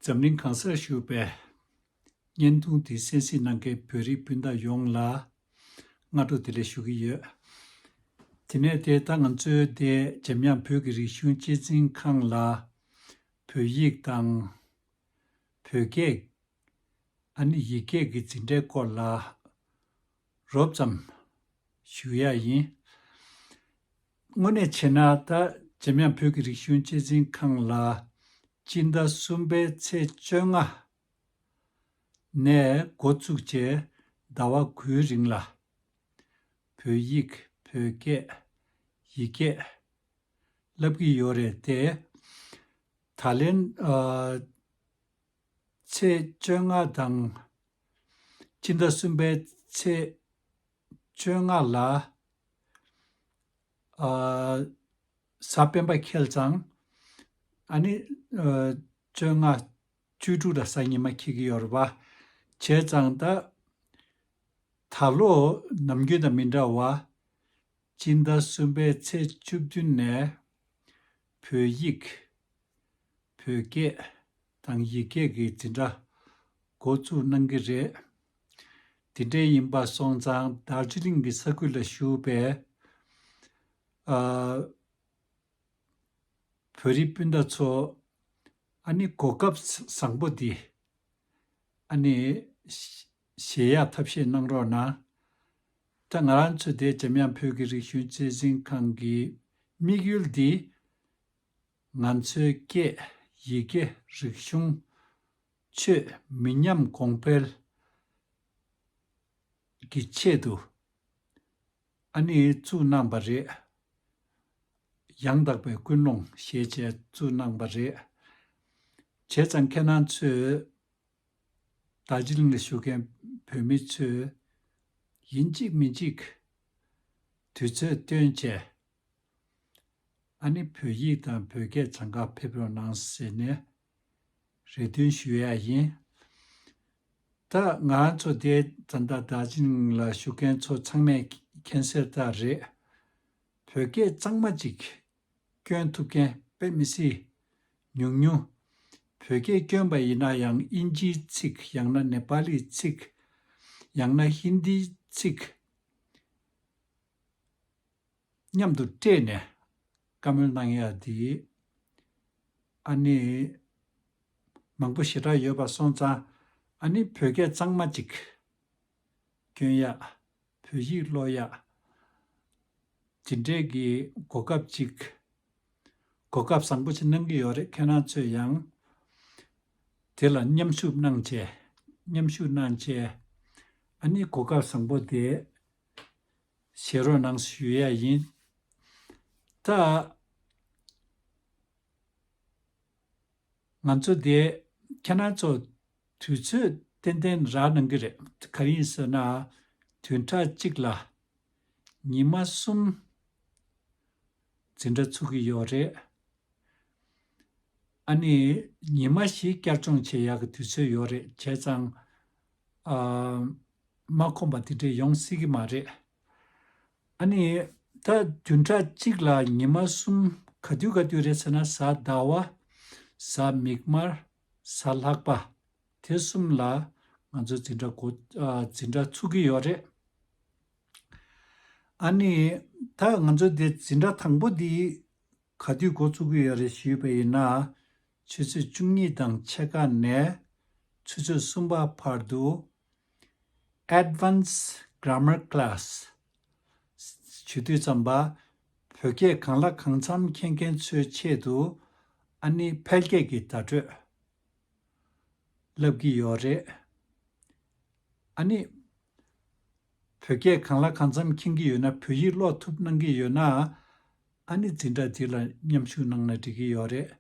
འཛམ་གླིང་གང་སར་བཞུགས་པའི། བརྙན་ཐུང་འདི་གསན་གཟིགས་གནང་མཁན་བོད་རིགས་སྤུན་ཟླ་ཡོངས་ལ། སྔ་དྲོ་དེ་ལས་ཞུ་གི་ཡོད། དེ་ནས་དེ་ལྟར་ང་ཚོའི་དེ་འཇམ་དབྱངས་བོད་ཀྱི་རིག་གཞུང་གཅེས་འཛིན་ཁང་ལ། བོད་ཡིག་དང། བོད་སྐད། ཨ་ནི་ཡིག་སྐད་ཀྱི་འཛིན་གྲྭའི་སྐོར་ལ། རོབ་ཙམ། ཞུ་ཡག་ཡིན། དངོས་གནས་བྱས་ན་ད་ཇེམ་དབྱངས་བོད་ཀྱི་རིག་གཞུང་གཅེས་འཛིན་ཁང་ལ། སྤྱི་ཟླ་གསུམ་པའི་ཚེས་བཅོ་ལྔ་ནས་འགོ་བཙུགས་རྗེས་ཟླ་བ་དགུའི་རིང་ལ། བོད་ཡིག་བོད་སྐད། ཡིག་སྐད། བསླབ་ཀྱི་ཡོད་རེད་དེ། ད་ལན། ཚེས་བཅོ་ལྔ་དང། སྤྱི་ཟླ་གསུམ་པའི་ཚེས་བཅོ་ལྔ་ལ། གཟའ་སྤེན་པ་ཁེལ་ཙང། ཨ་ནི། བཅོ་ལྔ། བཅུ་དྲུག་ལ་གཟའ་ཉི་མ་ཁེལ་གྱི་ཡོད་རེད་པ། བྱས་ཙང་ད། ད་ལོ་ནམ་རྒྱུན་དང་མི་འདྲ་བ། སྤྱི་ཟླ་གསུམ་པའི་ཚེས་བཅུ་བདུན་ནས་བོད་ཡིག། བོད་སྐད། དང་ཡིག་སྐད་ཀྱི་འཛིན་གྲྭ་འགོ་བཙུགས་གནང་གི་རེད། དེ་འདྲའི་ཡིན་པ་སོང་ཙང་རྡར་ཇི་ལིང་གི་ས་ཁུལ་ལ་བཞུགས་པའི། ཨ། བོད་རིགས་སྤུན་ཟླ་ཚོ། ཨ་ནི་གོ་སྐབས་བཟང་པོ་འདི། ཨ་ནི། གཞལ་ཡས་ཐབས་ཤེས་གནང་རོགས་གནང། ད་ང་རང་ཚོ་དེ་འཇམ་དབྱངས་བོད་ཀྱི་རིག་གཞུང་གཙོས་འཛིན་ཁང་གི་དམིགས་ཡུལ་འདི། ང་ཚོའི་སྐད། ཡི་གེ། རིག་གཞུང། ཆོས། མི་ཉམས་གོང་འཕེལ། གི་ཆེད་དུ། ཨ་ནི་བཙུགས་གནང་པ་རེད། ཡང་དག་པའི་ཀུན་སློང་ཞེས་བྱས་བཙུགས་གནང་པ་རེད། བྱས་ཙང་ཁྱེད་རང་ཚོས། ཟླ་སྤྱིལ་ནས་བཞུགས་མཁན་བོད་མི་ཚོས། ཡིན་གཅིག་མིན་གཅིག་དུས་ཚོད་སྟོན་ཆེད། ཨ་ནི་བོད་ཡིག་དང་བོད་སྐད་འཚང་ཁ་ཕེབས་རོགས་གནང་ཟེར་ནས་རེ་འདུན་ཞུ་ཡ་ཡིན། ད་ང་ཚོ་དེ་ཙམ་ད་ཟླ་སྤྱིལ་ལ་བཞུགས་མཁན་ཚོ་ཚང་མས་མཁྱེན་གསལ་ལྟར་རེད། བོད་སྐད་གཙང་མ་ཅིག་སྐྱོན་ཐུབ་མཁན་དཔེ་མི་སྲིད། ཉུང་ཉུང། བོད་སྐད་སྐྱོན་པ་ཡིན་ན་ཡང་དབྱིན་ཇིའི་ཚིག་ཡང་ན་ནེ་པ་ལིའི་ཚིག། ཡང་ན་ཧིན་དིའི་ཚིག། མཉམ་དུ་སྤྲད་ནས་བཀའ་མོལ་གནང་ཡ་དེ། ཨ་ནི། མང་པོ་ཞེ་དྲག་ཡོད་པ་སོང་ཙང་ཨ་ནི་བོད་སྐད་གཙང་མ་ཅིག། སྐྱོན་ཡག། བོད་ཡིག་ཀློག་ཡག། ཇི་འདྲས་ཀྱི་གོ་སྐབས་ཅིག། གོ་སྐབས་བཟང་པོ་ཞིག་གནང་གི་ཡོད་རེད་ཁྱེད་རང་ཚོས་ཡང། དེ་ལ་མཉམ་ཞུགས་གནང་བྱས། མཉམ་ཞུགས་གནང་བྱས། ཨ་ནི་གོ་སྐབས་བཟང་པོ་དེ། ཞེ་རོགས་གནང་ཞུ་ཡས་ཡིན། ད། ང་ཚོ་དེ་ཁྱེད་རང་ཚོ། དུས་ཚོད་ཏན་ཏན་རག་གནང་གི་རེད་ག་རེ་ཡིན་ཟེར་ན། དུས་འཁྲ་གཅིག་ལ། ཉི་མ་གསུམ། འཛིན་གྲྭ་ཚུགས་ཀྱི་ཡོད་རེད། ཨ་ནི་ཉི་མ་བཞི་བསྐྱར་སྦྱོང་བྱེད་ཡག་གི་དུས་ཚོད་ཡོད་རེད་བྱས་ཙང། མ་ཁོམ་པ་དེ་འདྲས་ཡོང་སྲིད་ཀྱི་མ་རེད། ཨ་ནི་ད་དུས་འཁྲ་གཅིག་ལ་ཉི་མ་གསུམ་ག་དུས་ག་དུས་རེད་ཟེར་ན་གཟའ་ཟླ་བ། གཟའ་མིག་དམར། ས་ལྷག་པ། དེ་གསུམ་ལ་ང་ཚོས་འཛིན་གྲྭ་གོ། འཛིན་གྲྭ་ཚུགས་ཀྱི་ཡོད་རེད། ཨཱ་ནི། ད་ང་ཚོས་དེ་འཛིན་གྲྭ་དང་པོ་འདི། ག་དུས་འགོ་ཚུགས་ཀྱི་ཡོད་རེད་ཞུས་པ་ཡིན་ན། ཆུ་ཚོད་བཅུ་གཉིས་དང་ཕྱེད་ཀ་ནས། ཆུ་ཚོད་གསུམ་པ་བར་དུ། Advance Grammar Class། བྱེད་དུས་བརྩམས་པ། བོད་སྐད་གང་ལ་གང་འཚམ་མཁྱེན་མཁན་ཚོའི་ཆེད་དུ། ཨ་ནི་ཕལ་སྐད་ཀྱི་བརྡ་སྤྲོད། ལབ་ཀྱི་ཡོད་རེད། ཨ་ནི། བོད་སྐད་གང་ལ་གང་འཚམ་མཁྱེན་གྱི་ཡོད་ན་བོད་ཡིག་ཀློག་ཐུབ་གནང་གི་ཡོད་ན། ཨ་ནི་འཛིན་གྲྭ་འདི་ལ་མཉམ་ཞུགས་གནང་ན་འགྲིག་གི་ཡོད་རེད།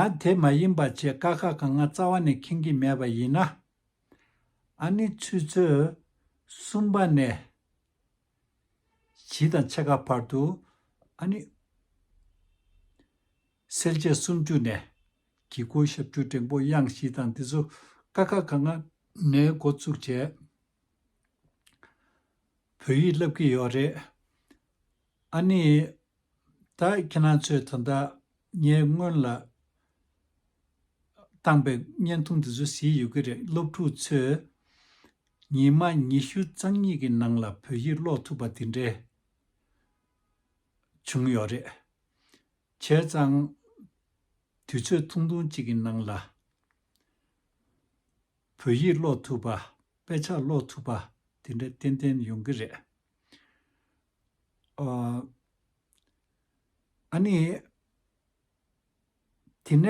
ཡང་དེ་མ་ཡིན་པ་བྱེད་དཀའ་ཁག་གང་ང་རྩ་བ་ནས་མཁྱེན་གྱི་མེད་པ་ཡིན་ན། ཨཱ་ནི་ཚུལ་འཆོས་གསུམ་པ་ནས། བཞི་དང་ཕྱེད་ཀ་བར་དུ་ཨཱ་ནི། སེལ་བྱེད་སུམ་ཅུ་ནས། གི་གུ་ཞབས་བཅུ་འབྲིང་པོ་དབྱངས་བཞི་དང་འདི་ཚོ་ཀ་ཁ་ག་ང་ནས་འགོ་བཙུགས་བྱས། བོད་ཡིག་བསླབ་ཀྱི་ཡོད་རེད། ཨ་ནི། ད་ཁྱེད་རང་ཚོས་ད་ལྟ་ངས་སྔོན་ལ་བཏང་པའི་བརྙན་ཐུང་དེ་ཚོ་གཟིགས་ཡོད་ཀྱི་རེད་སློབ་ཕྲུག་ཚོས་ཉིན་མ་ཉི་ཤུ་རྩ་གཉིས་ཀྱི་ནང་ལ་བོད་ཡིག་ཀློག་ཐུབ་པ་དེ་འདྲའི་བྱུང་ཡོད་རེད། བྱས་ཙང་དུས་ཚོད་ཐུང་ཐུང་གཅིག་གི་ནང་ལ་བོད་ཡིག་ཀློག་ཐུབ་པ་དཔེ་ཆ་ཀློག་ཐུབ་པ་དེ་འདྲ་ཏན་ཏན་ཡོང་གི་རེད། ཨཱ་ནི། དེ་ནས་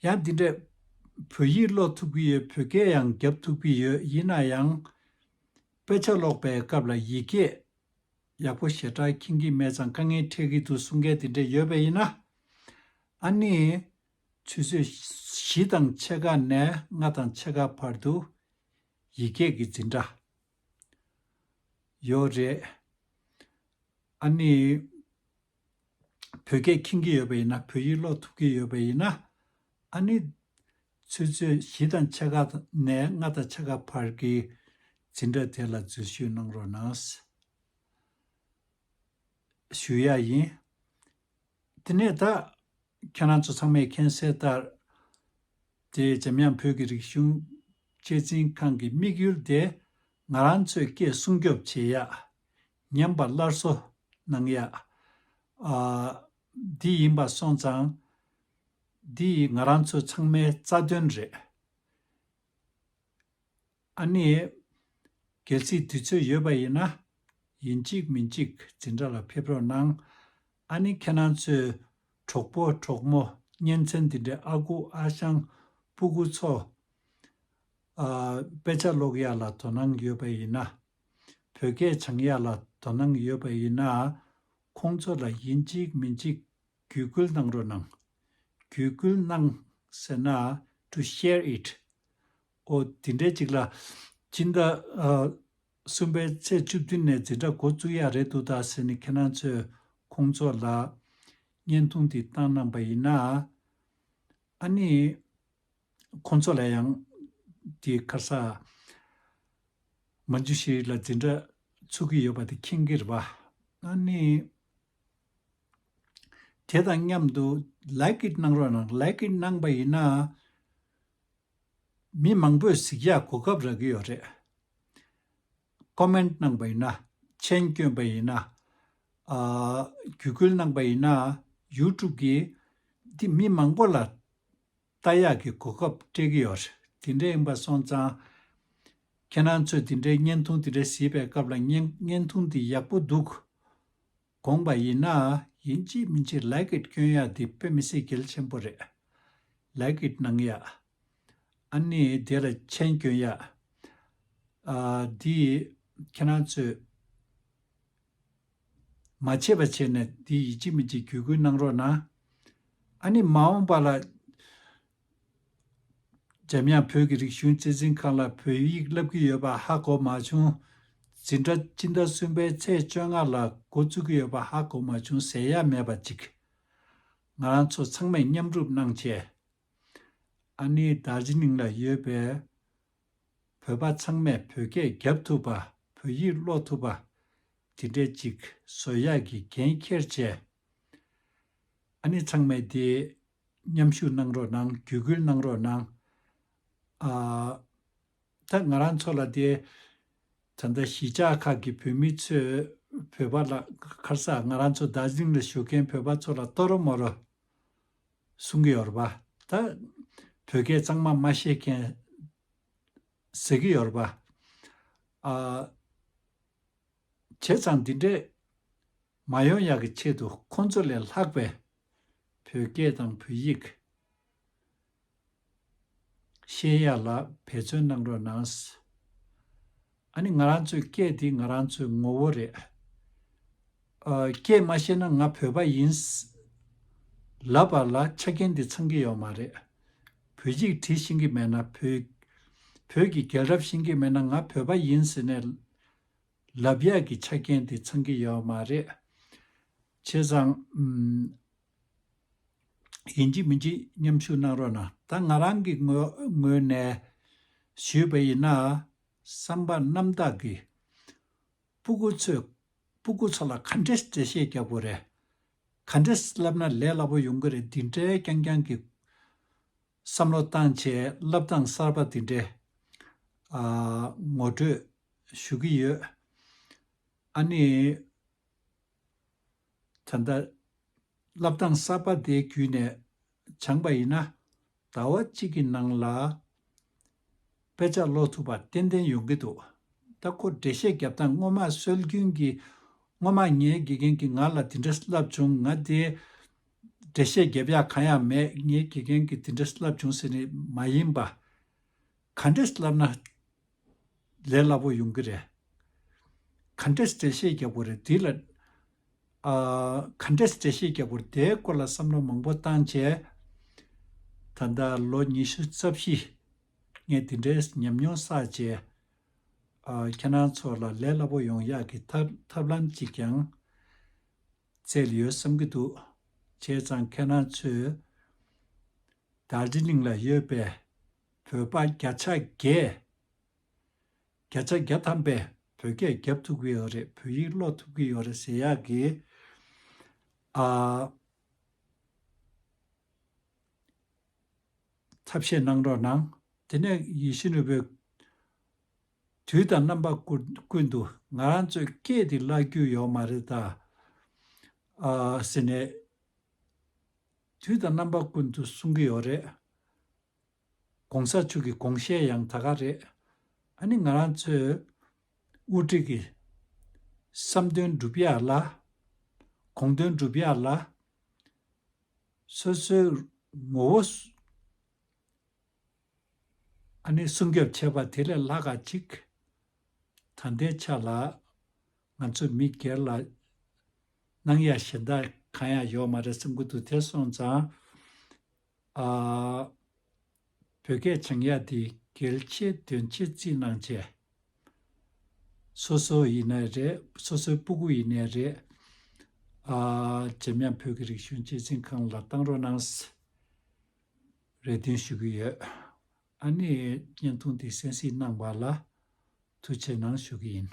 ཡང་འདི་འདྲས། བོད་ཡིག་ཀློག་ཐུབ་ཀྱི་ཡོད་བོད་སྐད་ཡང་རྒྱབ་ཐུབ་ཀྱི་ཡོད་ཡིན་ན་ཡང། དཔེ་ཆ་ཀློག་པའི་སྐབས་ལ་ཡིག་སྐད་ཡག་པོ་ཞེ་དྲག་མཁྱེན་གྱི་མེད་ཙང་དཀའ་ངལ་འཕྲད་ཀྱི་འདུག་གསུང་མཁན་དེ་འདྲས་ཡོད་པ་ཡིན་ན། ཨཱ་ནི། ཆུ་ཚོད་བཞི་དང་ཕྱེད་ཀ་ནས་ལྔ་དང་ཕྱེད་ཀ་བར་དུ། ཡིག་སྐད་ཀྱི་འཛིན་གྲྭ། ཡོད་རེད། ཨ་ནི། བོད་སྐད་མཁྱེན་གྱི་ཡོད་པ་ཡིན་ན་བོད་ཡིག་ཀློག་ཐུབ་ཀྱི་ཡོད་པ་ཡིན་ན། ཨ་ནི། ཚོད་ཚོད་བཞི་དང་ཕྱེད་ཀ་ནས་ལྔ་དང་ཕྱེད་ཀ་བར་གྱི་འཛིན་གྲྭ་དེ་ལ་འཛུལ་ཞུགས་གནང་རོགས་གནང། ཞུ་ཡག་ཡིན། དེ་ནས་ད། ཁྱེད་རང་ཚོ་ཚང་མས་མཁྱེན་གསལ་ལྟར། དེ་འཇམ་དབྱངས་བོད་ཀྱི་རིག་གཞུང་གཅེས་འཛིན་ཁང་གི་དམིགས་ཡུལ་དེ་ང་རང་ཚོས་སྐད་སྲུང་སྐྱོབ་བྱེད་ཡག། ཉམས་པ་སླར་གསོ་གནང་ཡག། འདི་ཡིན་པ་སོང་ཙང། འདི་ཡིས་ང་རང་ཚོ་ཚང་མའི་རྩ་དོན་རེད། ཨ་ནི། གལ་སྲིད་དུས་ཚོད་ཡོད་པ་ཡིན་ན། ཡིན་གཅིག་མིན་གཅིག་འཛིན་གྲྭ་ལ་ཕེབས་རོགས་གནང། ཨ་ནི་ཁྱེད་རང་ཚོའི་གྲོགས་པོ་གྲོགས་མོ་གཉེན་ཚན་འདི་འདྲའི་ཨ་ཁུ་ཨ་ཞང་སྤུ་གུ་ཚོ། དཔེ་ཆ་ཀློག་ཡག་ལ་དོ་སྣང་ཡོད་པ་ཡིན་ན། བོད་སྐད་སྦྱང་ཡག་ལ་དོ་སྣང་ཡོད་པ་ཡིན་ན། ཁོང་ཚོ་ལ་ཡིན་གཅིག་མིན་གཅིག་བརྒྱུད་སྐུལ་གནང་རོགས་གནང། བརྒྱུད་སྐུལ་གནང་ཟེར་ན to share it ཨོ་དེ་འདྲའི་ཅིག་ལ། སྤྱིར་ན། གསུམ་པའི་ཚེས་བཅུ་བདུན་ནས་འཛིན་གྲྭ་འགོ་བཙུགས་ཡག་རེད་འདུག་ད་ཟེར་ནི་ཁྱེད་རང་ཚོས་ཁོང་ཚོ་ལ། བརྙན་ཐུང་འདི་བཏང་གནང་པ་ཡིན་ན། ཨ་ནི། ཁོང་ཚོ་ལ་ཡང། དེ་ཁར་ས། མ་འཇུ་ཞིག་ལ་འཛིན་གྲྭ། ཚུགས་ཀྱི་ཡོད་པ་དེ་མཁྱེན་གྱི་རེད་པ། ཨ་ནི། དེ་དང་མཉམ་དུ་ལེགས་ཀྱི་གནང་རོགས་གནང་ལེགས་ཀྱི་གནང་པ་ཡིན་ན། མི་མང་པོས་གཟིགས་ཞག་གོ་སྐབས་རག་གི་ཡོད་རེད། Comment གནང་པ་ཡིན་ན། མཆན་བསྐྱོན་པ་ཡིན་ན། བརྒྱུད་སྐུལ་གནང་པ་ཡིན་ན། YouTube གིས་འདི་མི་མང་པོ་ལ་ལྟ་ཡག་གི་གོ་སྐབས་སྤྲད་གི་ཡོད། དེ་འདྲའི་ཡིན་པ་སོང་ཙང། ཁྱེད་རང་ཚོས་དེ་འདྲའི་བརྙན་ཐུང་དེ་འདྲ་གཟིགས་པའི་སྐབས་ལ་བརྙན་ཐུང་འདི་ཡག་པོ་འདུག། དགོངས་པ་ཡིན་ན་ཡིན་ཅིས་མིན་ཅིས་ལེགས་ཀྱིས་སྐྱོན་ཡག་འདི་དཔེ་མི་སྲིད་གལ་ཆེན་པོ་རེད། ལེགས་ཀྱིས་གནང་ཡག། ཨ་ནི་དེ་ལ་མཆན་སྐྱོན་ཡག། ཨ། འདི་ཁྱེད་རང་ཚོས་མ་བྱེད་པ་བྱེད་ནས་འདི་ཡིན་ཅིས་མིན་ཅིས་བརྒྱུད་སྐུལ་གནང་རོགས་གནང། ཨ་ནི་མ་འོངས་པ་ལ། འཇམ་དབྱངས་བོད་ཀྱི་རིག་གཞུང་གཅེས་འཛིན་ཁང་ལ་བོད་ཡིག་བསླབ་ཀྱི་ཡོད་པ་ཧ་གོ་མ་བྱུང། འཛིན་གྲྭ་སྤྱི་ཟླ་གསུམ་པའི་ཚེས་བཅོ་ལྔ་ལ་འགོ་བཙུགས་ཀྱི་ཡོད་པ་ཧ་གོ་མ་བྱུང་ཟེར་ཡ་མེད་པ་ཅིག། ང་རང་ཚོ་ཚང་མས་མཉམ་སྒྲུབ་གནང་ཆེད། ཨ་ནི་རྡར་རྗེ་ནིང་ལ་ཡོད་པའི་བོད་པ་ཚང་མས་བོད་སྐད་རྒྱབ་ཐུབ་པ་བོད་ཡིག་ཀློག་ཐུབ་པ། དེ་འདྲའི་ཅིག་བཟོ་ཡག་གི་འགན་འཁྱེར་བྱས། ཨ་ནེ་ཚང་མས་དེ། མཉམ་ཞུགས་གནང་རོགས་གནང་བརྒྱུད་སྐུལ་གནང་རོགས་གནང། ཨ། ད་ང་རང་ཚོ་ལ་དེ། ད་ལྟ་གཞིས་ཆགས་ཁག་གི་བོད་མི་ཚོས་བོད་པ་ལ་ཁར་སག་ང་རང་ཚོ་རྡ་རྫིང་ལ་བཞུགས་མཁན་བོད་པ་ཚོ་ལ་ལྟོ་རོ་མོ་རོ། གསུང་གི་ཡོར་པ། ད། བོད་སྐད་གཙང་མ་མ་ཤེས་མཁན། ཟེར་གི་ཡོར་པ། ཨ། བྱས་ཙང་འདི་འདྲས། མ་ཡོང་ཡག་གི་ཆེད་དུ་ཁོང་ཚོ་ལས་ལྷག་པའི་བོད་སྐད་དང་བོད་ཡིག་ཤེས་ཡག་ལ་འབད་བརྩོན་གནང་རོགས་གནང། ཨ་ནི་ང་རང་ཚོའི་སྐད་འདི་ང་རང་ཚོའི་ངོ་བོ་རེད། སྐད་མ་ཤེས་ན་ང་བོད་པ་ཡིན། ལབ་པ་ལ་ཆ་རྐྱེན་འདི་ཚང་གི་ཡོད་མ་རེད། བོད་ཡིག་བྲིས་ཤེས་ཀྱི་མེད་ན་བོད་བོད་ཀྱི་རྒྱལ་རབས་ཤེས་ཀྱི་མེད་ན་ང་བོད་པ་ཡིན་ཟེར་ནས་ལབ་ཡག་གི་ཆ་རྐྱེན་དེ་ཚང་གི་ཡོད་མ་རེད། བྱས་ཙང། ཡིན་གཅིག་མིན་གཅིག་མཉམ་ཞུགས་གནང་རོགས་གནང། ད་ང་རང་གི་ངོས་ནས་ཞུས་པ་ཡིན་ན། བསམ་པ་རྣམ་དག་གིས། སྤུ་གུ་ཚོས་སྤུ་གུ་ཚོ་ལ་ག་འདྲས་འགྲེལ་བཤད་རྒྱབ་དགོས་རེད། ག་འདྲས་ལབ་ན་ལས་སླ་པོ་ཡོང་གི་རེད་འདི་འདྲའི་རྐྱང་རྐྱང་གི། བསམ་བློ་བཏང་ཆེད་བསླབ་སྟངས་གསར་པ་འདི་འདྲའི། ངོ་སྤྲོད། ཞུ་གི་ཡོད། ཨ་ནི། ད་ལྟ། བསླབ་སྟངས་གསར་པ་འདི་བརྒྱུད་ནས་སྦྱངས་པ་ཡིན་ན། ཟླ་བ་གཅིག་གི་ནང་ལ། དཔེ་ཆ་ཀློག་ཐུབ་པ་ཏན་ཏན་ཡོང་གི་འདུག་ད་ཁོ་འགྲེལ་བཤད་བརྒྱབ་སྟངས་སྔོན་མ་སྲོལ་རྒྱུན་གྱི་སྔོན་མ་ངའི་དགེ་རྒན་གྱིས་ང་ལ་དེ་འདྲ་བསླབས་བྱུང་ང་དེ་འགྲེལ་བཤད་བརྒྱབ་ཡག་གང་ཡང་མེད་ངའི་དགེ་རྒན་གྱིས་དེ་འདྲ་བསླབས་བྱུང་ཟེར་ནི་མ་ཡིན་པ། ག་འདྲས་བསླབས་ན་ལས་སླ་པོ་ཡོང་གི་རེད། ག་འདྲས་འགྲེལ་བཤད་བརྒྱབ་དགོས་རེད་དེ་ལ། ག་འདྲས་བཀྲ་ཤིས་རྒྱལ་པོར་དེའི་སྐོར་ལ་བསམ་བློ་མང་པོ་བཏང་རྗེས། ད་ལྟ་ལོ་ཉི་ཤུ་རྩ་བཞི། ངས་དེ་འདྲའི་ཉམས་མྱོང་བསགས་རྗེས། ཁྱེད་རང་ཚོ་ལ་ལས་སླ་པོ་ཡོང་ཡག་གི་ཐབས་ལམ་ཅིག་ཀྱང་བཙལ་ཡོད་བསམ་གྱི་འདུག་བྱས་ཙང་ཁྱེད་རང་ཚོས་དཱར་ཇི་ལིང་ལ་ཡོད་པའི་བོད་པ་བརྒྱ་ཆ་བརྒྱད། བརྒྱ་ཆ་བརྒྱ་ཐམ་པས་བོད་སྐད་རྒྱབ་ཐུབ་ཀྱི་ཡོད་རེད་བོད་ཡིག་ཀློག་ཐུབ་ཀྱི་ཡོད་རེད་ཟེར་ཡག་གི། ཨ། ཐབས་ཤེས་གནང་རོགས་གནང། དེ་ནས་ཡེ་ཤེས་ནོར་བུས། དུས་དང་རྣམ་པ་ཀུན་ཏུ་ང་རང་ཚོས་སྐད་འདི་བཀླག་རྒྱུ་ཡོག་མ་རེད་ད། ཨ། ཟེར་ནས། དུས་དང་རྣམ་པ་ཀུན་ཏུ་གསུང་གི་ཡོག་རེད། གོང་ས་མཆོག་གི་དགོངས་བཞེད་ཡང་དག་ག་རེད། ཨ་ནི་ང་རང་ཚོས་དབུ་ཁྲིད་ཀྱི་བསམ་དོན་འགྲུབ་ཡག་ལ། དགོངས་དོན་འགྲུབ་ཡག་ལ། སོ་སོའི་ངོ་བོ་ཨ་ནི་སྲུང་སྐྱོབ་བྱེད་པ་དེ་ལས་ལྷག་ག་ཅིག་ད་ལྟའི་ཆ་ལ་ང་ཚོ་མི་སྒེར་ལ་གནང་ཡག་ཞེ་འདག་གང་ཡང་ཡོག་མ་རེད་སེམས་ཁུར་དུ་དེ་སོང་ཙང་ཨ། བོད་སྐད་བྱང་ཡག་འདི་གལ་ཆེ་དོན་ཆེ་རྩིས་གནང་བྱས། སོ་སོ་ཡི་ནས་རེད་སོ་སོའི་སྤུ་གུ་ཡི་ནས་རེད། ཨ། ཇེམ་དབྱངས་བོད་ཀྱི་རིག་གཞུང་སྐྱེད་སྲིང་ཁང་ལ་བཏང་རོགས་གནང། རེ་འདུན་ཞུ་གི་ཡོད། ཨ་ནེ་བརྙན་ཐུང་འདི་གསན་གཟིགས་གནང་བ་ལ་ཐུགས་ཆེ་གནང་ཞུ་གི་ཡིན།